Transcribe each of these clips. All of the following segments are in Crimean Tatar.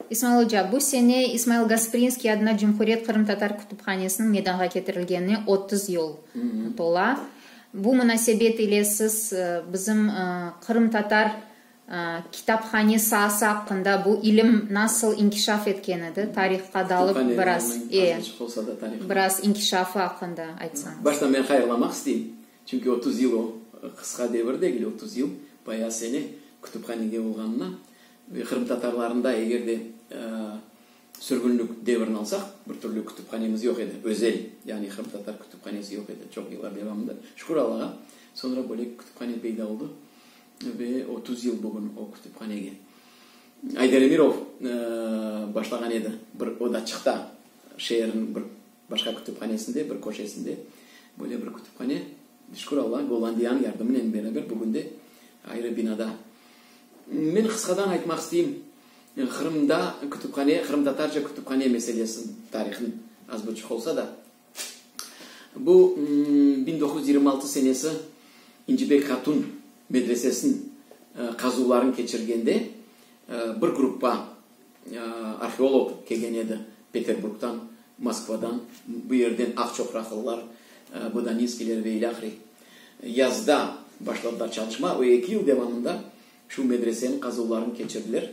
İsmail oca, bu sene İsmail Gasprinskiy adına Cumhuriyet qırımtatar kütüphanesiniñ meydanğa ketirilgenine otuz yıl tola. Bu munasebet ile siz bizim qırımtatar kitaphane saası aqqında, bu ilim nasıl inkişaf etken edi, tarihqa dalıp biraz, e, biraz inkişafı aqqında aytsañız. Başta men hayırlamaq isteyim, çünki otuz yıl o, qısqa devir degil, otuz yıl, bayağı sene kütüphanege olğanına. Qırımtatarlarında eger de sürgünlik devrini alsaq, bir türlü kütüphanemiz yoq edi, özel, yani qırımtatar kütüphanesi yoq edi çoq yıllar devamında. Şükür Allağa, soñra böyle kütüphane peyda oldı ve otuz yıl bugün o kütüphanege. Aydar Emirov başlağan edi bir odaçıqta, şeerniñ bir. Başka kütüphanesinde, bir köşesinde böyle bir kütüphane, şükür Alla, Gollandiyanıñ yardımınen beraber bugün de ayrı binada. Men qısqadan aytmaq isteyim, Qırımda kütüphane, qırımtatarca kütüphane meselesini, tarihini az buçuq olsa da. Bu biñ doquz yüz yirmi altı senesi İncibek Hatun medresesini qazuvlarını keçirgende bir gruppa, Arheolog kelgen edi Peterburgdan, Moskvadan, bu yerden aqçoqraqlılar, Bodaninskiyler ve ilâhre. Yazda başladılar çalışma ve eki yıl devamında şu medreseniñ qazuvlarını keçirdiler.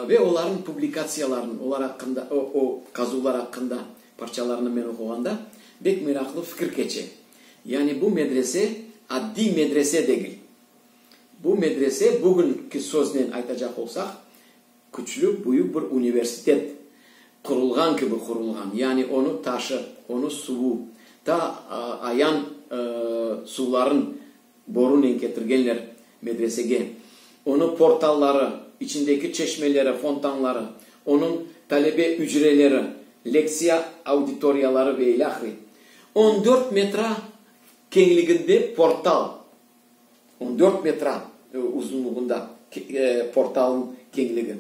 Ve olarnıñ publikatsiyalarını, olar aqqında, o qazuvlar aqqında parçalarını men oquğanda bek meraqlı fikir keçe, yani bu medrese addiy medrese degil. Bu medrese, bugünki söznen aytacaq olsaq, küçlü, büyük bir universitet qurulğan kibi qurulğan. Yani onı taşı, onı suvu, ta ayan suvların borunen ketirgenler medresege. Onı portalları, içindeki çeşmeleri, fontanları, onıñ talebe ücreleri, lektsiya auditoriyaları ve ilâhre. On dört metra keñliginde portal, On dört metre uzunlığında portalnıñ keñligi.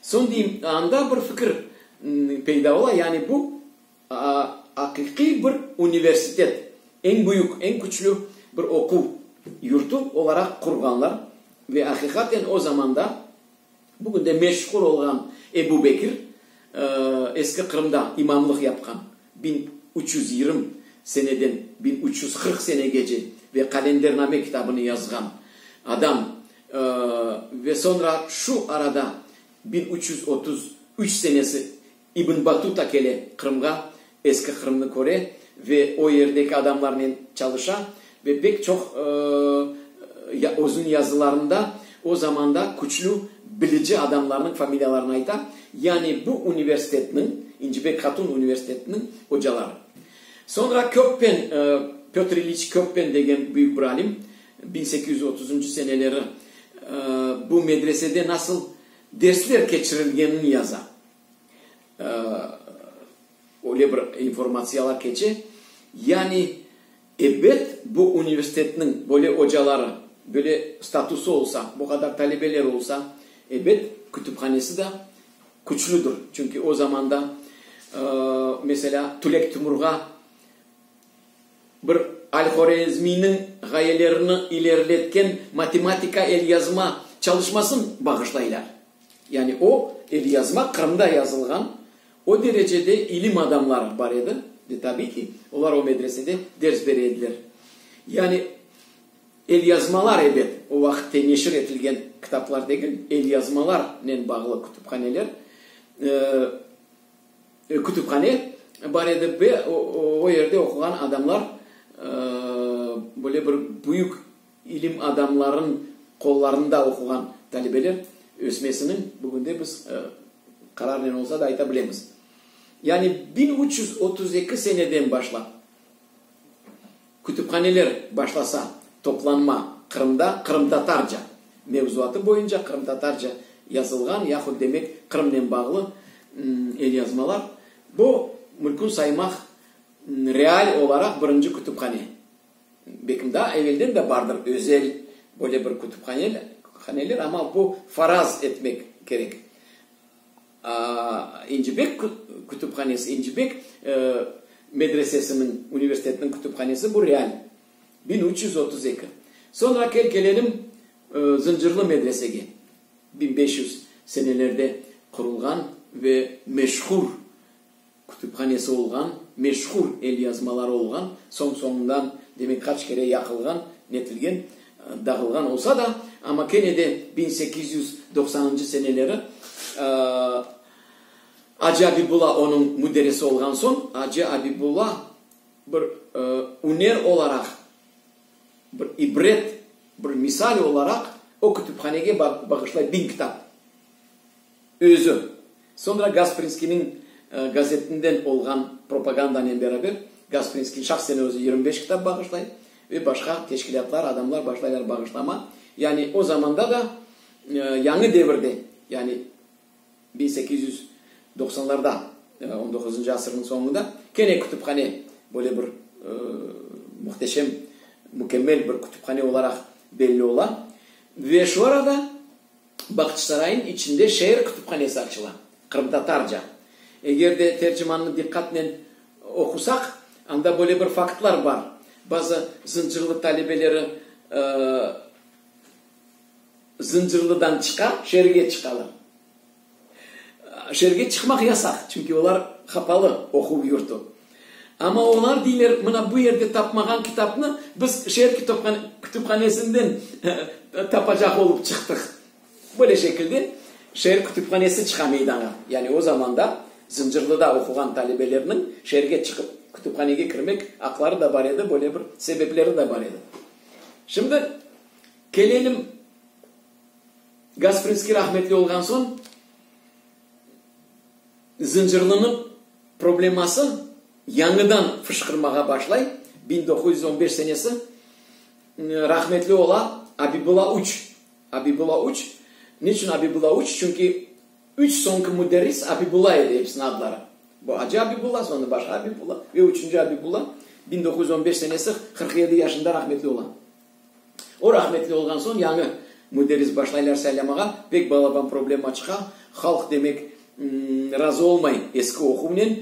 Soñ deyim, anda bir fikir peyda ola, yani bu aqiqiy bir universitet, eñ büyük, eñ küçlü bir oquv yurtu olaraq qurğanlar ve aqiqaten o zamanda, Bugün de meşhur olğan Ebu Bekir, eski Qırımda imamlıq yapqan biñ üç yüz yirmi seneden biñ üç yüz qırq senegece ve Qalendername kitabını yazğan adam ve soñra şu arada biñ üç yüz otuz üç senesi İbn Battuta kele Qırımğa, eski Qırımnı köre ve o yerdeki adamlarnen çalışa ve pek çoq özüniñ yazılarında o zamanda küçlü bilici adamlarnıñ familiyalarını ayta, yani bu universitetniñ, İncibek Hatun universitetiniñ ocaları. Soñra Köppen, Pötr İliç Köppen degen büyük bir alim, biñ sekiz yüz otuzıncı seneleri bu medresede nasıl dersler keçirilgenini yaza. Öyle bir informatsiyalar keçe. Yani, ebet, bu universitetniñ böyle ocaları, böyle statusı olsa, bu qadar talebeleri olsa, ebet, kütüphanesi de küçlüdir. Çünki o zamanda, meselâ, Tülek Timurğa bir Al-Horezmiyniñ ğayelerini ileriletken matematika elyazma çalışmasın bağışlaylar. Yani o elyazma Qırımda yazılğan, o derecede ilim adamları bar edi, ve tabiy ki, olar o medresede ders bere ediler. Yani elyazmalar, ebet, o vaqitte neşir etilgen kitaplar degil, elyazmalarnen bağlı kütüphaneler, kütüphane bar edi ve o yerde oquğan adamlar böyle bir büyük, İlim adamlarınıñ qollarında oquğan talebeler ösmesiniñ, bugünde biz qararnen olsa da ayta bilemiz. Yani biñ üç yüz otuz eki seneden başlap kütüphaneler başlasa toplanma Qırımda qırımtatarca mevzuatı boyunca qırımtatarca yazılğan yahut demek Qırımnen bağlı elyazmalar, bu mülkün saymaq real olaraq birinci kütüphane. Bekimda evelden de bardır özel böyle bir kütüphaneler, amma bu faraz etmek kerek. İncibek kütüphanesi, İncibek medresesiniñ, universitetiniñ kütüphanesi, bu real, biñ üç yüz otuz eki. Soñra kel kelelim Zıncırlı medresege, biñ beş yüz senelerde qurulğan ve meşhur kütüphanesi olğan, meşhur elyazmaları olğan, soñ-soñundan, demek, qaç kere yaqılğan, netilgen, dağılğan olsa da, amma kene de biñ sekiz yüz doqsanıncı seneleri Acı Abibulla onıñ müderrisi olğan soñ, Acı Abibulla bir üner olaraq, bir ibret, bir misal olaraq o kütüphanege bağışlay biñ kitap. Özüm, soñra Gasprinskiyniñ gazetinden olğan propagandanen beraber, Gasprinskiy şahsen özü yirmi beş kitap bağışlay ve başqa teşkilâtlar, adamlar başlaylar bağışlama. Yani o zamanda da Yañı devirde, yani biñ sekiz yüz doqsanlarda, on doquzıncı asırnıñ soñunda kene kütüphane, böyle bir muhteşem, mükemmel bir kütüphane olaraq belli ola. Ve şu arada. Baqıçsaraynıñ içinde şeer kütüphanesi açıla, qırımtatarca. Eger de tercimannı diqqatnen oqusaq, anda böyle bir faktlar bar, bazı Zıncırlı talebeleri Zıncırlıdan çıqa, şeerge çıqalar. Şeerge çıqmaq yasaq, çünki olar hapalı, oquv yurtu. Amma olar deyler, mına bu yerde tapmağan kitapnı biz şeer kütüphanesinden tapacaq olıp çıqtıq. Böyle şekilde şeer kütüphanesi çıqa meydanğa. Yani o zamanda Zıncırlıda oquğan talebelerniñ şeerge çıqıp kütüphanege kirmek aqları da bar edi, böyle bir sebepleri de bar edi. Şimdi kelelim. Gasprinskiy rahmetli olğan soñ Zıncırlınıñ probleması yañıdan fışqırmağa başlay, biñ doquz yüz on beş senesi, rahmetli ola Abibula üç. Abibula üç, niçün Abibula üç? Çünki üç soñki müderris Abibula edi episiniñ adları. Bu Acı Abibula, soñra başqa Abibula ve üçünci Abibula, biñ doquz yüz on beş senesi, qırq yedi yaşında rahmetli ola. O rahmetli olğan soñ yañı müderris başlaylar saylamağa, pek balaban problema çıqa, halq demek razı olmay eski oquvnen,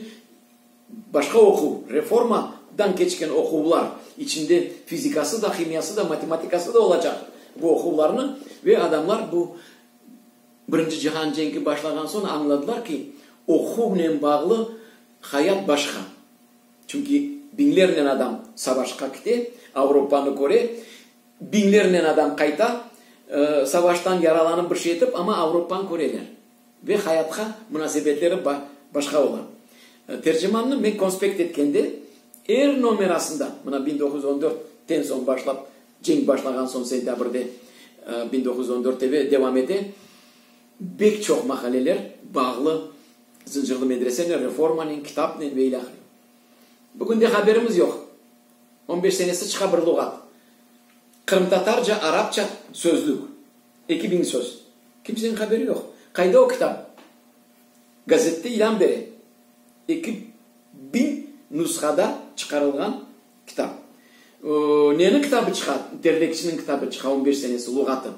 başqa oquv, reforma dan keçken oquvlar, içinde fizikası da, himiyası da, matematikası da olacaq bu oquvlarnı ve adamlar bu Birinci cihan cenki başlağan soñ añladılar ki, oquvnen bağlı hayat başqa. Çünki biñlernen adam savaşqa kite, Avropanı köre, biñlernen adam qayta, savaştan yaralanıp bir şey etip, amma Avropanı köreler ve hayatqa munasebetleri başqa ola. Tercimannı men konspekt etkende, er nomerasında, mına biñ doquz yüz on dörtten soñ başlap, cenk başlağan soñ sentâbrde biñ doquz yüz on dörtte ve devam ete, bek çoq maqaleler bağlı. Zıncırlı medresene, reformanen, kitapnen ve ilâhre. Bugünde haberimiz yoq. On beş senesi çıqa bir luğat. Qırımtatarca, arapça sözlük. Eki biñ söz. Kimseniñ haberi yoq. Qayda o kitap? Gazette ilân bere. Eki biñ nusğada çıqarılğan kitap. Neniñ kitabı çıqa? Terlekçiniñ kitabı çıqa, on beş senesi luğatı.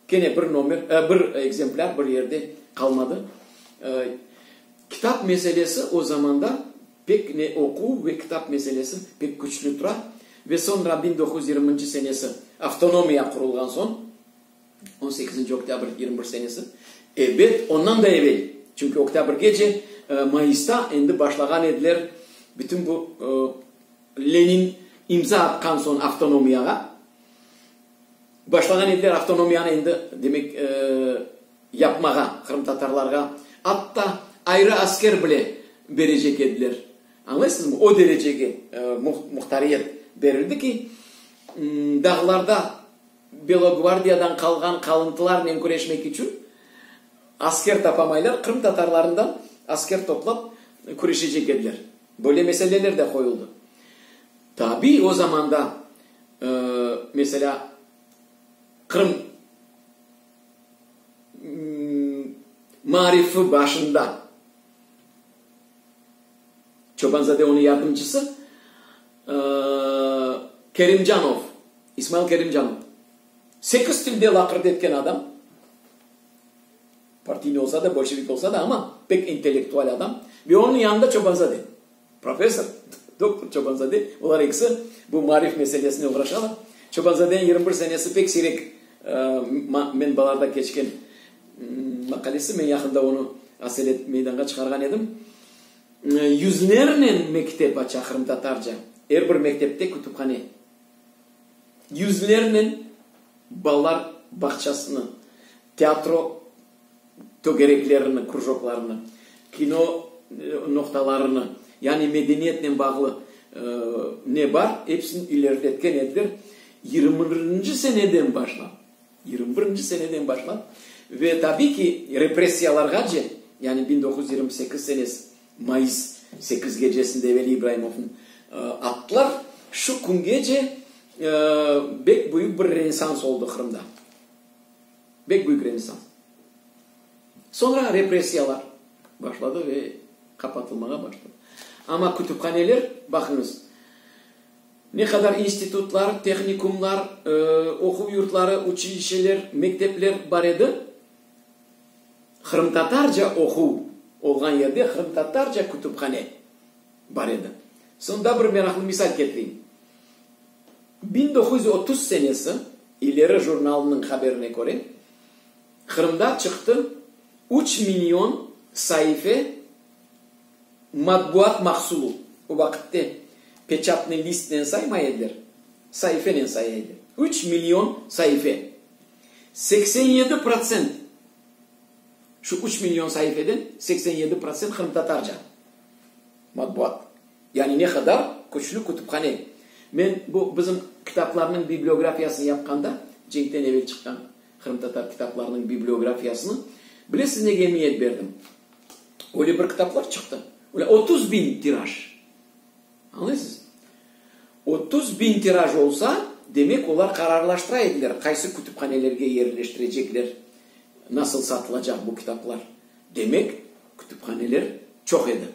Kene bir nomer, bir ekzemplâr bir yerde qalmadı. Kitap meselesi o zamanda pek ne oquv ve kitap meselesi pek küçlü tura. Ve soñra biñ doquz yüz yirminci senesi avtonomiya qurulğan soñ, on sekizinci oktâbr yirmi bir senesi, ebet, ondan da evel, çünki oktâbrgece, mayısta endi başlağan ediler bütün bu Lenin imza atqan soñ avtonomiyağa, Başlağan ediler avtonomiyanı endi, demek, yapmağa, qırımtatarlarğa atta ayrı asker bile berecek ediler. Añlaysıñızmı? O derecege muhtariyet berildi ki, dağlarda Belogvardiyadan qalğan qalıntılarnen küreşmek içün asker tapamaylar, qırımtatarlarından asker toplap küreşecek ediler. Böyle meseleler de qoyuldı. Tabiy, o zamanda, meselâ, Qırım maarifi başında Çobanzade onıñ yardımcısı Kerimcanov, İsmail Kerimcanov, sekiz tilde laqırdı etken adam, partiyniy olsa da, bolşevik olsa da, amma pek intellektual adam, ve onıñ yanında Çobanzade. Professor doktor Çobanzade, olar ekisi bu maarif meselesine oğraşalar. Çobanzadenin yirmi bir senesi pek siyrek menbalarda keçken maqalesi, men yaqında onı aselet meydanğa çıqarğan edim. Yüzlernen mektep aça qırımtatarca, er bir mektepte kütüphane. Yüzlernen balalar bağçasını, teatro. tögereklerini, krujoklarını, kino noqtalarını, yani medeniyetnen bağlı ne bar, epsini ilerletken ediler. Yirmi birinci seneden başlap, yirmi birinci seneden başlap ve tabiy ki, repressiyalarğace, yani biñ doquz yüz yirmi sekiz senesi mayıs sekiz gecesinde Veli İbraimovnı attılar, şu küngece bek büyük bir rensans oldı Qırımda. Bek büyük renessans. Soñra repressiyalar başladı ve qapatılmağa başladı. Amma kütüphaneler, baqıñız, ne qadar institutlar, tehnikumlar, oquv yurtları, uçilişeler, mektepler bar edi, qırımtatarca oquv olğan yerde qırımtatarca kütüphane. bar edi. Soñ daa bir meraqlı misal ketireyim. Biñ doquz yüz otuz senesi, İleri jurnalınıñ haberine köre, Qırımda çıqtı üç million saife matbuat mahsulu. O vaqıtte peçatnıy listnen saymay ediler, saifenen saya ediler. Üç million saife. Seksen yedi protsent, şu üç million saifeden seksen yedi protsent qırımtatarca. Matbuat, yani ne qadar küçlü kütüphane. Men bu bizim kitaplarnıñ bibliografiyasını yapqanda, cenkten evel çıqqan qırımtatar kitaplarınıñ bibliografiyasını, bilesiz nege emiyet berdim? Öyle bir kitaplar çıqtı, öyle otuz biñ tiraj. Añlaysız? Otuz biñ tiraj olsa, demek olar qararlaştıra ediler, qaysı kütüphanelerge yerleştirecekler, nasıl satılacaq bu kitaplar. Demek. Kütüphaneler çoq edi.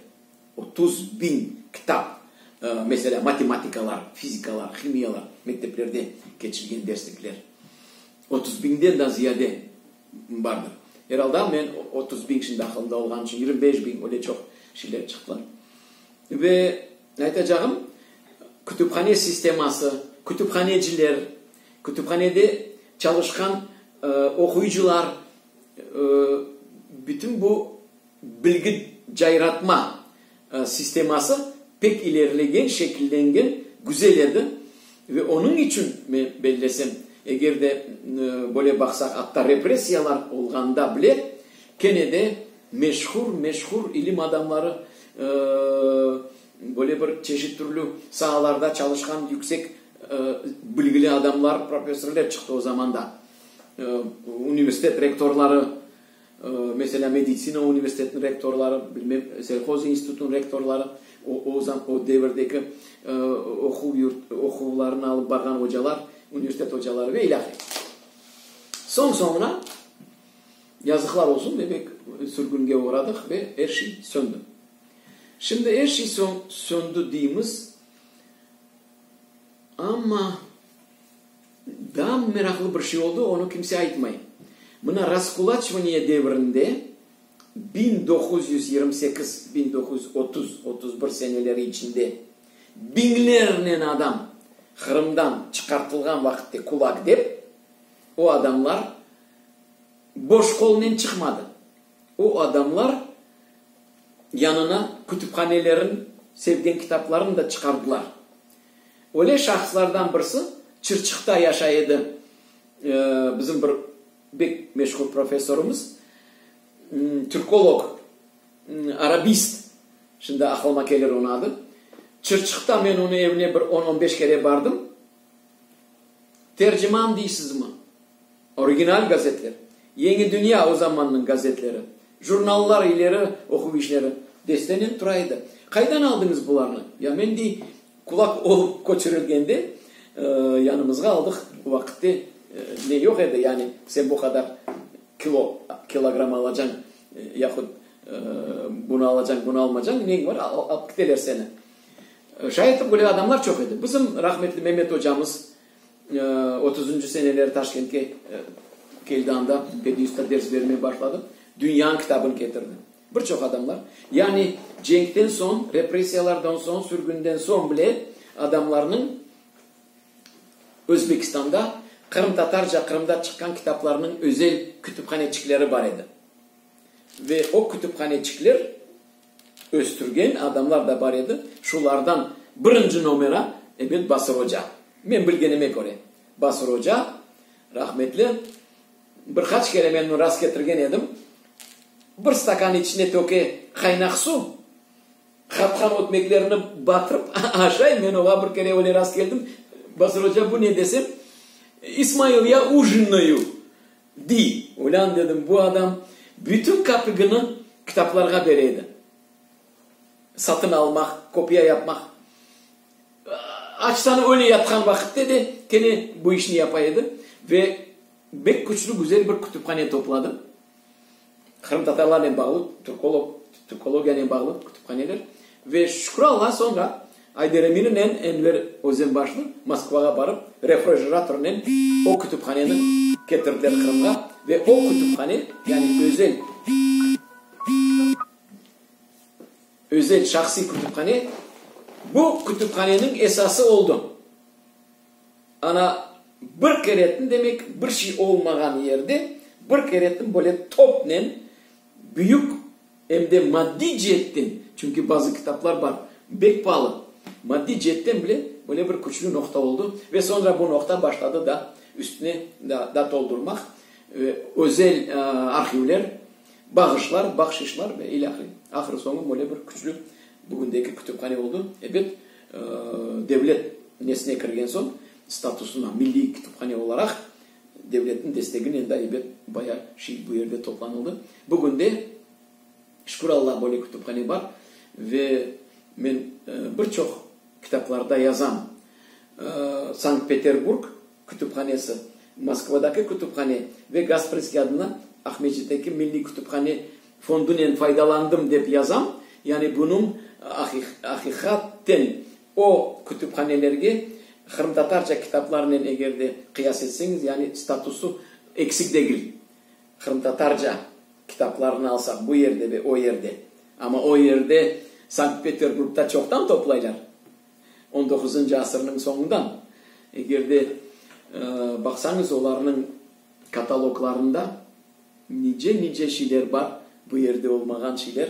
Otuz biñ kitap, meselâ, matematikalar, fizikalar, himiyalar, mekteplerde keçilgen derslikler. Otuz biñden daa ziyade bardı. Eralda, men otuz biñ şimdi aqılımda olğanı içün, yirmi beş biñ, öyle çoq şeyler çıqtı. Ve aytacağım, kütüphane sisteması, kütüphaneciler, kütüphanede çalışqan oquyıcılar, Bütün bu bilgi cayratma sisteması pek ilerilegen, şekillengen, güzel edi. Ve onıñ içün men bellesem, eger de böyle baqsaq, atta repressiyalar olğanda bile, kene de meşhur, meşhur ilim adamları, böyle bir çeşit türlü saalarda çalışqan yüksek bilgili adamlar, profesörler çıqtı o zamanda. Universitet rektorları, meselâ, meditsina universitetiniñ rektorları, bilmem, selhoz institutınıñ rektorları, o zam, o devirdeki oquv yurt, oquvlarını alıp barğan ocalar, universitet ocaları ve ilâhre. Soñ soñuna, yazıqlar olsun, demek, sürgünge oğradıq ve er şey söndi. Şimdi er şey söndi deymiz, amma. Daa meraqlı bir şey oldı, onı kimse aytmay. Mına raskulaçvaniye devrinde, biñ doquz yüz yirmi sekiz, biñ doquz yüz otuz, otuz bir seneleri içinde biñlernen adam Qırımdan çıqartılğan vaqitte kulak dep, o adamlar boş qolnen çıqmadı. O adamlar yanına kütüphanelerin sevgen kitaplarını da çıqardılar. Öyle şahıslardan birisi Çırçıqta yaşay edi, bizim bir bek meşhur professorımız, türkolog, arabist, şimdi aqlıma kelir onı adı. Çırçıqta men onı evine bir on-on beş kere bardım. Terciman deysizmi? Original gazetler, Yeñi dünya o zamannıñ gazetleri, jurnallar ileri oquv işleri destenen tura edi. Qaydan aldıñız bularnı? Ya men dey, kulak olıp köçürilgende yanımızğa aldıq. O vaqitte ne yoq edi, yani sen bu qadar kilo, kilogramm alacañ, yahut bunı alacañ, bunı almacañ, neñ bar, alıp kiteler seni. Şayet öyle adamlar çoq edi. Bizim rahmetli Memet ocamız, Otuzuncu seneleri Taşkentke keldi, anda Pedniüsta ders bermeye başladı. Dünyanıñ kitabını ketirdi. Bir çoq adamlar. Yani cenkten soñ, repressiyalardan soñ, sürgünden soñ bile adamlarnıñ Özbekistanda qırımtatarca Qırımda çıqqan kitaplarnıñ özel kütüphaneçikleri bar edi. Ve o kütüphaneçikler. Östürgen adamlar da bar edi, şulardan birinci nomera, ebet, Basır oca. Men bilgenime köre, Basır oca, rahmetli, bir qaç kere men rast ketirgen edim, bir stakan içine töke qaynaq suv, qatqan ötmeklerini batırıp aşay, men oğa bir kere öyle rast keldim, Basır oca, bu ne desem, İsmail, ya ujinnoyu. Di, ulân dedim, bu adam bütün kapigini kitaplarğa bere edi. Satın almaq, kopiya yapmaq. Açtan öyle yatqan vaqitte de kene bu işni yapa edi ve bek küçlü, güzel bir kütüphane topladı. Qırımtatarlarnen bağlı türkolog, türkologiyanen bağlı kütüphaneler ve şükür Alla soñra Ayder Emininen Enver Özenbaşnı Moskvağa barıp refrijeratornen o kütüphaneni ketirdiler Qırımğa ve o kütüphane yani özel, özel şahsiy kütüphane bu kütüphaneniñ esası oldı. Ana, bir keretin, demek, bir şey olmağan yerde bir keretin böyle topnen büyük, em de maddiy ceetten, çünki bazı kitaplar bar, bek paalı, maddiy ceetten bile böyle bir küçlü noqta oldı ve soñra bu noqta başladı da üstüne da toldurmaq, özel arhivler, bağışlar, bahşişlar ve ilâhre. Ahır-soñu böyle bir küçlü bugündeki kütüphane oldı. Ebet. Devlet nesine kirgen soñ statusına, milliy kütüphane olaraq devletniñ desteginen daibet bayağı şey bu yerde toplanıldı. Bugün de, şükür Alla, böyle kütüphane bar ve men bir çoq kitaplarda yazam. Sankt-Peterburg. kütüphanesi, Moskvadaki kütüphane ve Gasprskiy adına Aqmescitteki Milliy kütüphane fondunen faydalandım dep yazam, yani bunıñ aqiqaten o kütüphanelerge qırımtatarca kitaplarnen eger de qıyas etseñiz, yani statusı eksik degil, qırımtatarca kitaplarnı alsaq bu yerde ve o yerde, amma o yerde Sankt-Peterburgda çoqtan toplaylar. On doquzıncı asırnıñ soñundan, eger de baqsañız, olarnıñ kataloglarında nice-nice şeyler bar, bu yerde olmağan şeyler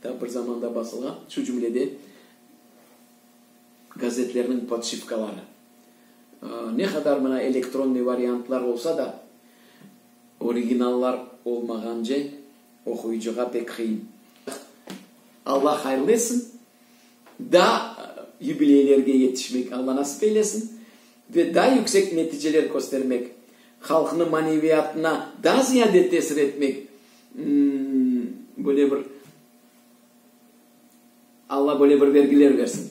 da bir zamanda basılğan, şu cümlede gazetlerniñ podşipkaları. Ne qadar mına elektronniy variantlar olsa da, originallar olmağance oquyıcığa pek qıyın. Alla hayırlı etsin. Daa yubileylerge yetişmek Alla nasip eylesin ve daa yüksek neticeler köstermek, halqnıñ maneviyatına daa ziyade tesir etmek, böyle bir Alla böyle bir vergiler bersin.